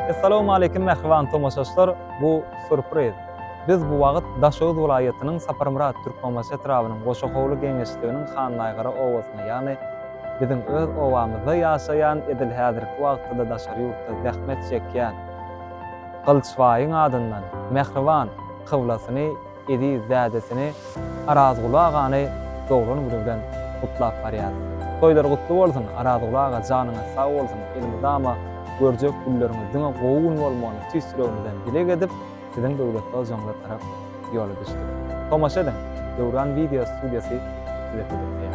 Assalamu alaykum mähriban tomaşaçylar. Bu surpriz. Biz bu wagt Daşoguz welaýatynyň Saparmyrat Türkmenbaşy etrabynyň Goşa howly geňeşliginiň Hannaýgara obasynda, ýagny biziň öz obamyzda ýaşaýan, edil häzirki wagtda-da daşary ýurtda zähmet çekýän Gylyçbaýyň adyndan Mähriban kyblasyny eziz dädesini Arazguly agany doglan güni bilen gutlap barýar. Toýlar gutly bolsun Arazguly aga janyňyz sag bolsun elmydama görjek günleriňiz diňe gowy gün bolmagyny tüýs ýüregimizden dileg edip siziň döwletli ojagyňyza tarap ýola düşdik. Tomaşa ediň Döwran video studiýasy size hödürleýär.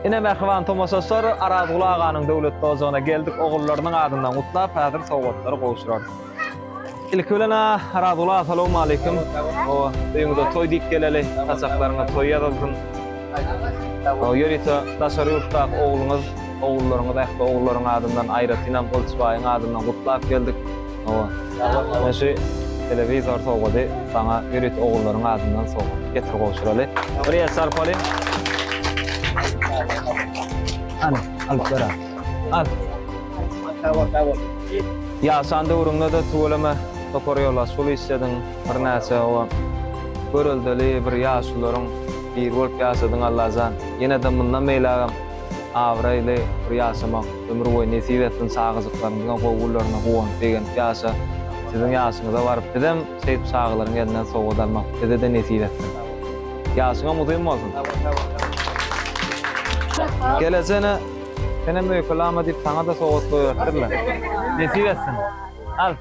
Ine mähriban tomaşaçylar Arazguly aganyň döwletli ojagyna geldik ogullarynyň adyndan gutlap häzir sowgatlary gowşurarys. Ilki bilen-ä Razuly aga salawmaleýkim. O öýüňize toý diýip geleli, saçaklaryňa toý ýazylsyn. O ýörite daşary ýurtdaky ogluňyz, ogullaryňyz ähli ogullaryň adyndan, aýratynam Gylyç baýyň adyndan gutlap geldik. O men şu telewizor sowgady saňa ýörite ogullaryň adyndan sowgat. Getir gowşuraly. Bir el çarpaly. Hany, alyp ber-ä. Al. Sawol, sawol. Ýaşan döwrüňde-de tüweleme topar ýolbaşçylyk işlediň, birnäçe oba göreldeli bir ýaşulularyň biri bolup ýaşadyň Allajan. Ýene-de mundan beýlägem abraýly bir ýaşamak ömür boýy nesip etsin çagajyklaryňyzyň gowy günlerine guwanyp begenip ýaşa. Siziň ýaşyňyza baryp bizem şeýdip çagalaryň elinden sowgat almak bize-de nesip etsin. Ýaşyňam uzyn bolsun. Gelejegine Senem öýke lama diýip saňa-da sowgat goýberipdirler. Nesip etsin. Al.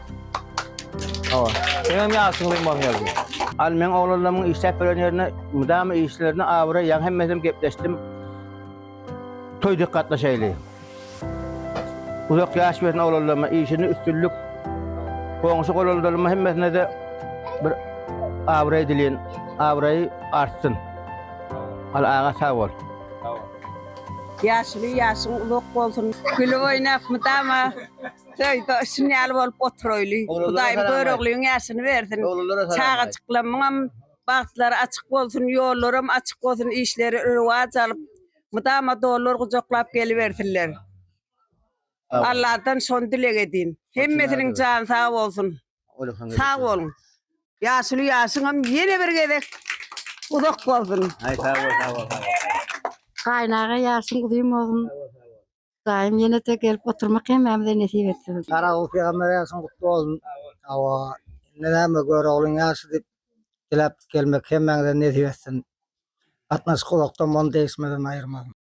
Hawa. Seňem ýaşyň uzyn bolsun Ýazgy. Al meň oglanlarymyň işläp beren ýerine mydama işlerine abraý ýaň hemmesem gepleşdim toý dek gatnaşaýly. Uzak ýaş bersin oglanlaryma işinde üstünlik goňşy golondalyma hemmesinede bir abraý dileýin abraýy artsyn. Al aga sag bol. Ýaşuly ýaşyň uzak bolsun. Gülüp oýnap mydama toýda şun ýaly bolup oturaýly. Hudaýym göroglyň ýaşyny bersin. Çagajyklamyňam bagtlary açyk bolsun, ýollaram açyk bolsun, işleri röwaç alyp, mydama dollar gujaklap gelibersinler. Alladan şony dileg edýin. Hemmesiniň jany sag bolsun. Olyhan Sag boluň. Ýaşuly ýaşyňam ýene bir gezek uzak bolsun. Ay sağ ol sağ ol. sağ ol. Gaýnaga ýaşyň uzyn bolsun. Daýym ýene-de gelip oturmak hemmämize nesip etsin. Garagul peýgamber ýaşyň gutly bolsun. Hawa. Indi näme Göroglyň ýaşy diýip diläp gelmek hemmäňize nesip etsin. Gatnaşyk uzakdan bolsun degişmeden aýyrmasyn.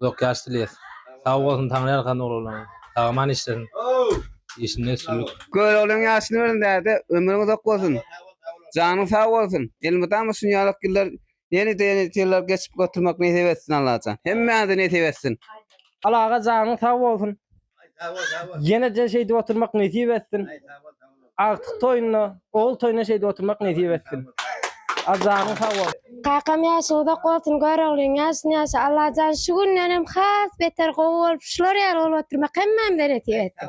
uzak ýaş dileýäs. Sag bolsun Taňry ýalkasyn oglanlaryň. Sag-aman işlesin. Işinde üstünlik. Körogliň ýaşyny bersin däde ömrüň uzak bolsun janyň sag bolsun elmydama şunýalak ýyllar ýene-de ýene ýyllar geçip oturmak nesip etsin Allajan hemmäňize nesip etsin. Al aga janyň sag bolsun Ýeneje şeýdip oturmak nesip etsin. Agtyk toýunda, ogul toýunda şeýdip oturmak nesip etsin. Ajanyň sag bol. Kakam ýaşy uzak bolsun göroglyň ýaşyn ýaşa Allajan şu gündenem has beter gowy bolup şular ýaly bolup oturmak hemmämize nesip etsin.